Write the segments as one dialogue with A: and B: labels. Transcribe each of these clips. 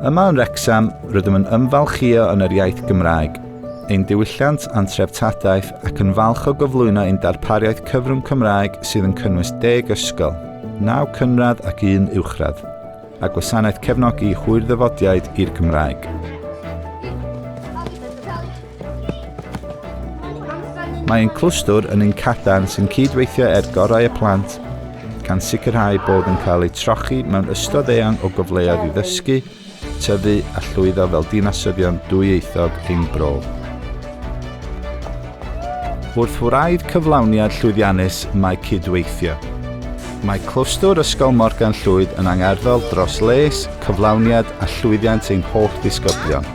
A: Yma yn Wrecsam, rydym yn ymfalchio yn yr iaith Gymraeg, ein diwylliant a'n treftadaeth ac yn falch o gyflwyno ein darpariaeth cyfrwng Cymraeg sydd yn cynnwys deg ysgol, naw cynradd ac un uwchradd, a gwasanaeth cefnogi hwyr ddyfodiaid i'r Gymraeg. Mae ein clwstwr yn un cadarn sy'n cyd-weithio er gorau y plant, gan sicrhau bod yn cael eu trochi mewn ystod eang o gyfleoedd i ddysgu, tyfu a llwyddo fel dinasyddion dwyieithog ein bro. Wrth wraidd cyflawniad llwyddiannus mae cydweithio. Mae clwstwr Ysgol Morgan Llwyd yn angerddol dros les, cyflawniad a llwyddiant ein holl ddisgyblion.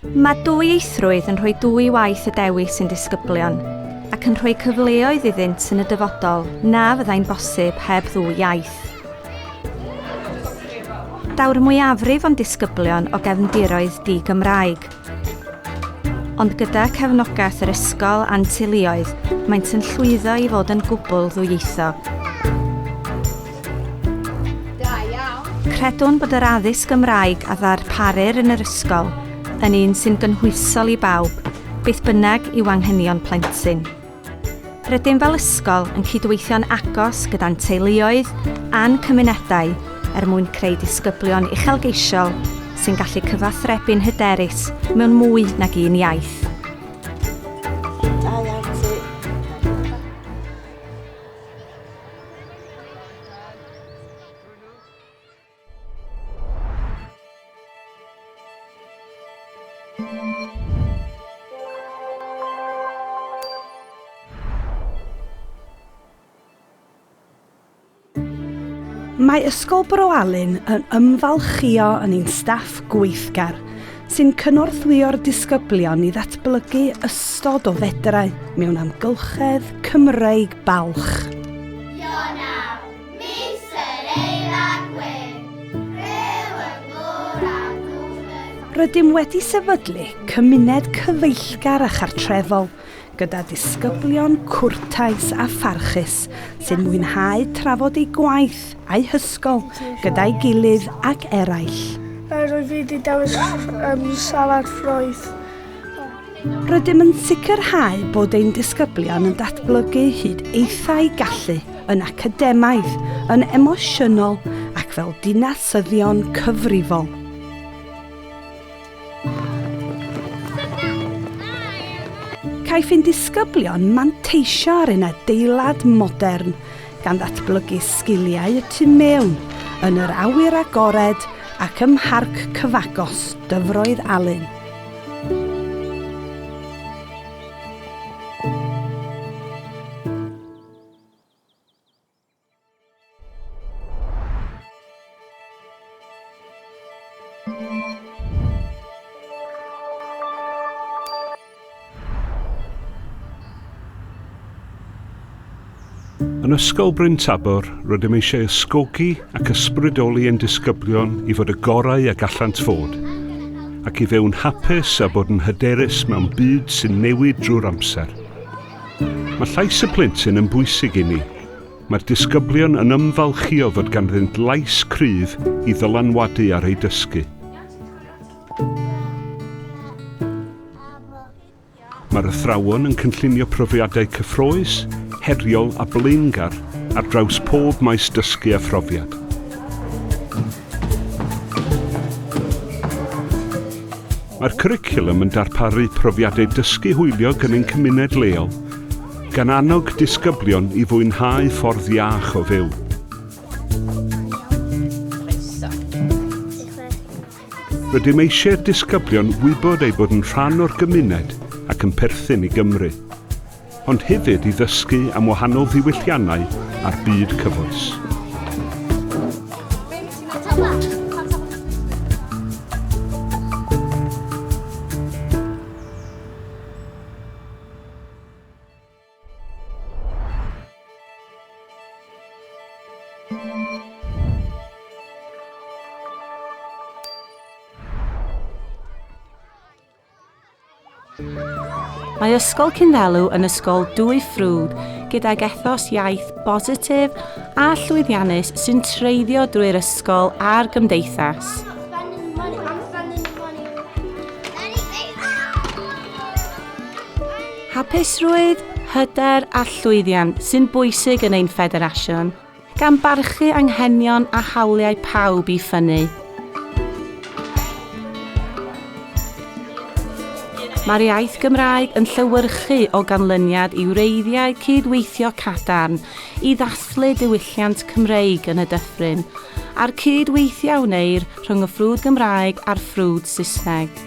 A: Mae dwyieithrwydd yn rhoi dwy waith y dewis i'n disgyblion, ac yn rhoi cyfleoedd iddynt yn y dyfodol na fyddai'n bosib heb ddwy iaith. Daw'r mwyafrif o'n disgyblion o gefndiroedd di-Gymraeg, ond gyda chefnogaeth yr ysgol a'n teuluoedd, maent yn llwyddo i fod yn gwbl ddwyieithog. Da iawn. Credwn bod yr addysg Gymraeg a ddarparir yn yr ysgol yn un sy'n gynhwysol i bawb, beth bynnag yw anghenion plentyn. Rydym fel ysgol yn cydweithio'n agos gyda'n teuluoedd a'n cymunedau er mwyn creu disgyblion uchelgeisiol sy'n gallu cyfathrebu'n hyderus mewn mwy nag un iaith. Da iawn ti. Mae Ysgol Bro Alun yn ymfalchïo yn ein staff gweithgar, sy'n cynorthwyo'r disgyblion i ddatblygu ystod o fedrau mewn amgylchedd Cymreig balch. Ionawr, mis yr eilad gwyn, rhyw y glwr a ddŵr Rydym wedi sefydlu cymuned cyfeillgar a chartrefol gyda disgyblion cwrtais a pharchus sy'n mwynhau trafod eu gwaith a'u hysgol gyda'i gilydd ac eraill. Rwyf i wedi dewis salad ffrwyth. Rydym yn sicrhau bod ein disgyblion yn datblygu hyd eithau gallu yn academaidd, yn emosiynol ac fel dinasyddion cyfrifol. Caiff ein disgyblion manteisio ar ein adeilad modern, gan ddatblygu sgiliau y tu mewn, yn yr awyr agored ac ym mharc cyfagos Dyfroedd Alun. Yn Ysgol Bryn Tabor, rydym eisiau ysgogi ac ysbrydoli ein disgyblion i fod y gorau a gallant fod, ac i fyw'n hapus a bod yn hyderus mewn byd sy'n newid drwy'r amser. Mae llais y plentyn yn bwysig i ni. Mae'r disgyblion yn ymfalchïo fod ganddynt lais cryf i ddylanwadu ar eu dysgu. Mae'r athrawon yn cynllunio profiadau cyffrous, heriol a blaengar ar draws pob maes dysgu a phrofiad. Mae'r cwricwlwm yn darparu profiadau dysgu hwyliog yn ein cymuned leol, gan annog disgyblion i fwynhau ffordd iach o fyw. Rydym eisiau'r disgyblion wybod eu bod yn rhan o'r gymuned ac yn perthyn i Gymru. ond hefyd i ddysgu am wahanol ddiwylliannau a'r byd cyfoes. Mae Ysgol Cynddelw yn ysgol dwy ffrwd gydag ethos iaith bositif a llwyddiannus sy'n treiddio drwy'r ysgol a'r gymdeithas. Hapusrwydd, hyder a llwyddiant sy'n bwysig yn ein ffederasiwn. Gan barchu anghenion a hawliau pawb i ffynnu. Mae'r iaith Gymraeg yn llewyrchu o ganlyniad i wreiddiau cyd-weithio cadarn i ddathlu diwylliant Cymreig yn y dyffryn, a'r cyd weithio a wneir rhwng y ffrwd Gymraeg a'r ffrwd Saesneg.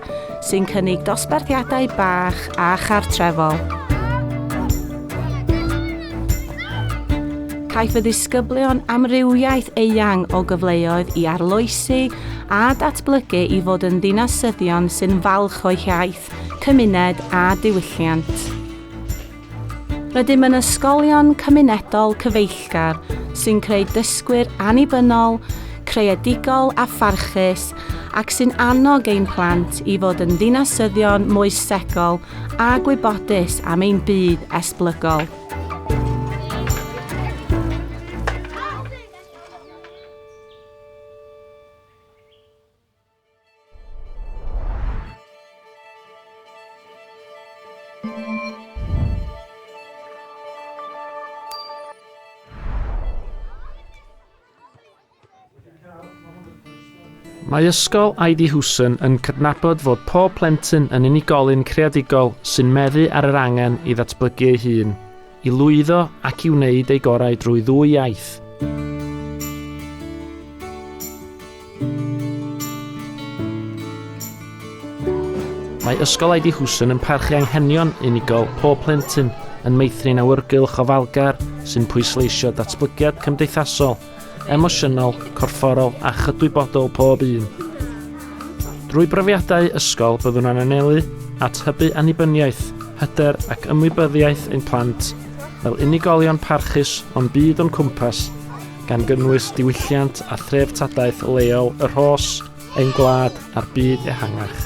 A: sy'n cynnig dosbarthiadau bach a chartrefol. Caiff y ddisgyblion amrywiaeth eang o gyfleoedd i arloesi a datblygu i fod yn ddinasyddion sy'n falch o'u hiaith, cymuned a diwylliant. Rydym yn ysgolion cymunedol cyfeillgar sy'n creu dysgwyr annibynnol, creadigol a pharchus ac sy'n annog ein plant i fod yn ddinasyddion moesegol a gwybodus am ein byd esblygol. Mae Ysgol Ivy Hewson yn cydnabod fod pob plentyn yn unigolyn creadigol sy'n meddu ar yr angen i ddatblygu ei hun. I lwyddo ac i wneud eu gorau drwy ddwy iaith. Mae Ysgol Aidi Hwson yn parchu anghenion unigol pob plentyn, yn meithrin awyrgylch ofalgar sy'n pwysleisio datblygiad cymdeithasol, emosiynol, corfforol a chydwybodol pob un. Drwy brofiadau ysgol byddwn yn anelu at hybu annibyniaeth, hyder ac ymwybyddiaeth ein plant fel unigolion parchus o'n byd o'n cwmpas, gan gynnwys diwylliant a threftadaeth leol y rhos, ein gwlad a'r byd ehangach.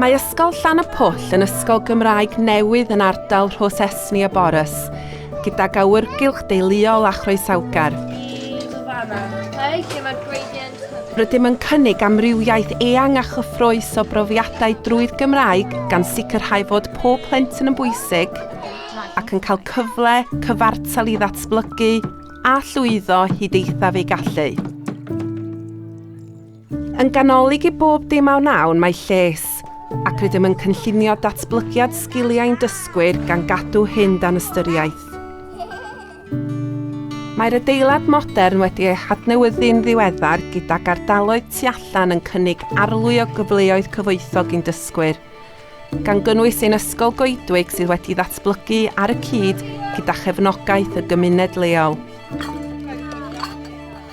A: Mae Ysgol Llan y Pwll yn ysgol Gymraeg newydd yn ardal Rhos Esni a Borys, gydag awyrgylch deuluol a chroesawgar. Rydym yn cynnig amrywiaeth eang a chyffroes o brofiadau drwy'r Gymraeg gan sicrhau fod pob plentyn yn bwysig ac yn cael cyfle cyfartal i ddatblygu a llwyddo hyd eithaf ei gallu. Yn ganolig i bob dim a wnawn mae lles, ac rydym yn cynllunio datblygiad sgiliau'n dysgwyr gan gadw hyn dan ystyriaeth. Mae'r adeilad modern wedi ei hadnewyddu'n ddiweddar gyda gardaloedd tu allan yn cynnig arlwy o gyfleoedd cyfoethog i'n dysgwyr, gan gynnwys ein Ysgol Goedwig sydd wedi ddatblygu ar y cyd gyda chefnogaeth y gymuned leol.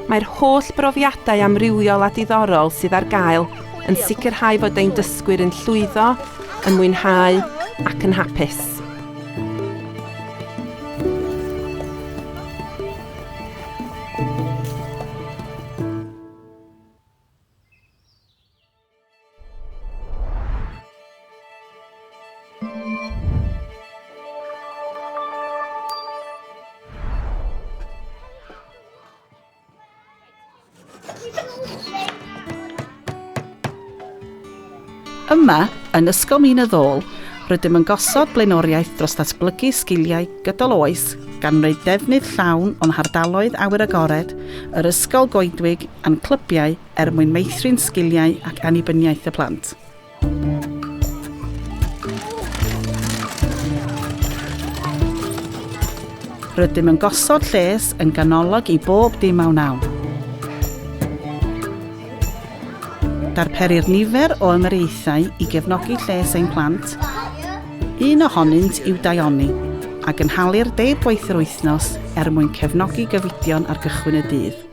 A: Mae'r holl brofiadau amrywiol a diddorol sydd ar gael yn sicrhau fod ein dysgwyr yn llwyddo, yn mwynhau ac yn hapus. Yma, yn Ysgol Mîn y Ddôl, rydym yn gosod blaenoriaeth dros ddatblygu sgiliau gydol oes gan wneud defnydd llawn o'n hardaloedd awyr agored, yr ysgol goedwig a'n clybiau er mwyn meithrin sgiliau ac annibyniaeth y plant. Rydym yn gosod lles yn ganolog i bob dim a wnawn. Darperir nifer o ymyriaethau i gefnogi lles ein plant, un ohonynt i'w daioni, a gynhalir deg gwaith yr wythnos er mwyn cefnogi gyfidion ar gychwyn y dydd.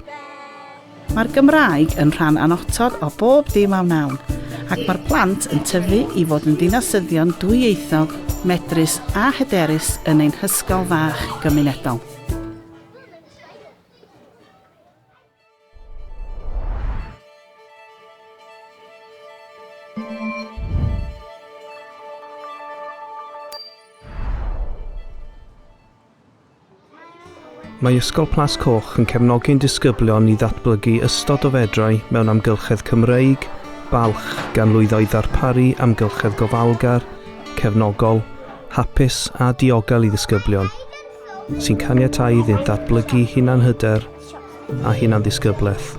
A: Mae'r Gymraeg yn rhan annotod o bob dim a wnawn, ac mae'r plant yn tyfu i fod yn ddinasyddion dwyieithog, medrus a hyderus yn ein hysgol fach gymunedol. Mae Ysgol Plas Coch yn cefnogi ein disgyblion i ddatblygu ystod o fedrau mewn amgylchedd Cymreig, balch, gan lwyddo i ddarparu amgylchedd gofalgar, cefnogol, hapus a diogel i ddisgyblion, sy'n caniatáu iddynt ddatblygu hunanhyder, a hunandisgyblaeth.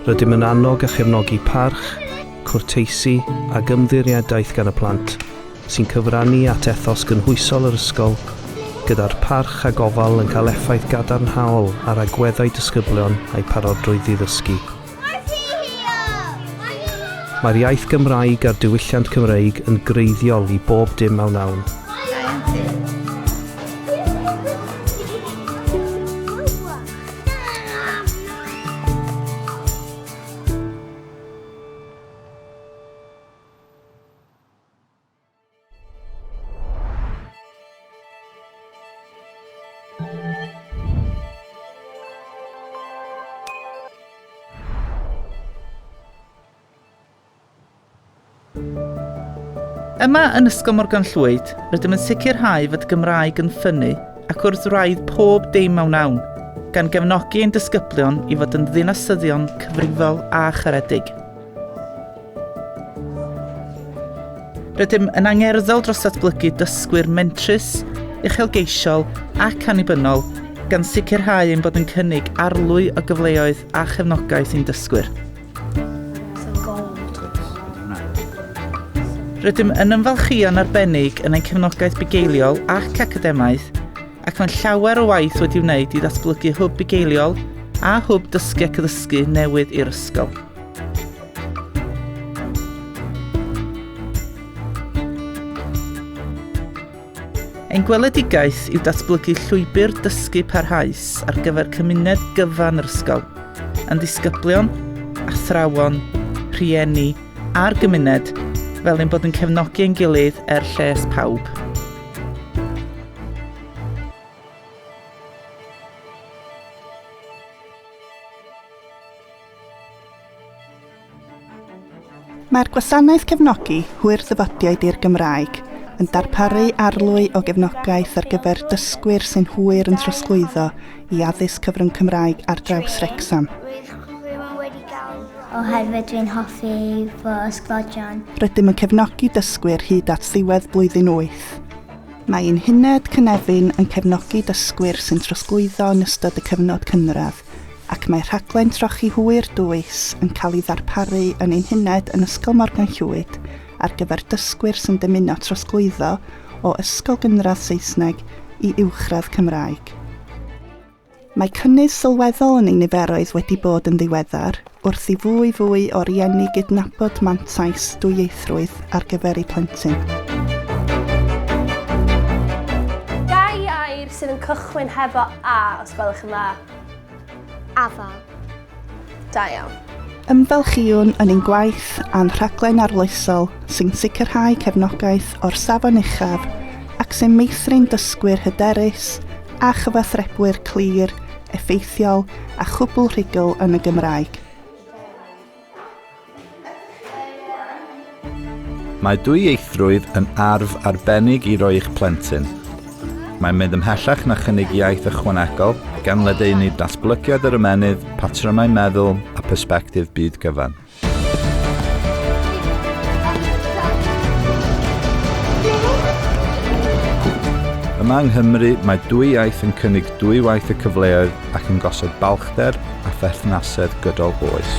A: Rydym yn annog a chefnogi parch, cwrteisi ac ymddiriedaeth gan y plant, sy'n cyfrannu at ethos gynhwysol yr ysgol, gyda'r parch a gofal yn cael effaith gadarnhaol ar agweddau disgyblion a'u parodrwydd i ddysgu. Mae'r iaith Gymraeg a'r diwylliant Cymreig yn greiddiol i bob dim a wnawn. Yma yn Ysgol Morgan Llwyd, rydym yn sicrhau fod Gymraeg yn ffynnu ac wrth wraidd pob dim mewn awn, gan gefnogi ein disgyblion i fod yn ddinasyddion cyfrifol a charedig. Rydym yn angerddol dros ddatblygu dysgwyr mentrus, uchelgeisiol ac annibynnol, gan sicrhau ein bod yn cynnig arlwy o gyfleoedd a chefnogaeth i'n dysgwyr. Rydym yn ymfalchïo'n arbennig yn ein cefnogaeth bugeiliol ac academaidd, ac mae'n llawer o waith wedi wneud i ddatblygu hwb bugeiliol a hwb dysgu ac addysgu newydd i'r ysgol. Ein gweledigaeth yw datblygu llwybr dysgu parhaus ar gyfer cymuned gyfan yr ysgol, yn ddisgyblion, athrawon, rhieni a'r gymuned, fel ein bod yn cefnogi ein gilydd er lles pawb. Mae'r Gwasanaeth Cefnogi Hwyr Ddyfodiaid i'r Gymraeg yn darparu arlwy o gefnogaeth ar gyfer dysgwyr sy'n hwyr yn trosglwyddo i addysg cyfrwng Cymraeg ar draws Wrecsam. Oherwydd dwi'n hoffi fy ysgodion. Rydym yn cefnogi dysgwyr hyd at ddiwedd blwyddyn 8. Mae ein Huned Cynefin yn cefnogi dysgwyr sy'n trosglwyddo yn ystod y cyfnod cynradd, ac mae rhaglen trochi hwyr dwys yn cael ei ddarparu yn ein huned yn Ysgol Morgan Llwyd ar gyfer dysgwyr sy'n dymuno trosglwyddo o ysgol gynradd Saesneg i uwchradd Cymraeg. Mae cynnydd sylweddol yn ein niferoedd wedi bod yn ddiweddar wrth i fwy fwy o rieni gydnabod mantais dwyieithrwydd ar gyfer eu plentyn. Dau air sydd yn cychwyn hefo 'A' os gwelwch yn dda. Afal. Da iawn. Ymfalchïwn yn ein gwaith a'n rhaglen arloesol sy'n sicrhau cefnogaeth o'r safon uchaf ac sy'n meithrin dysgwyr hyderus a chyfathrebwyr clir, effeithiol a chwbl rhugl yn y Gymraeg. Mae dwyieithrwydd yn arf arbennig i roi i'ch plentyn. Mae'n mynd ymhellach na chynnig iaith ychwanegol, gan ledaenu datblygiad yr ymennydd, patrymau meddwl a persbectif byd gyfan. Yma yng Nghymru, mae dwy iaith yn cynnig dwy waith y cyfleoedd ac yn gosod balchder a pherthnasedd gydol oes.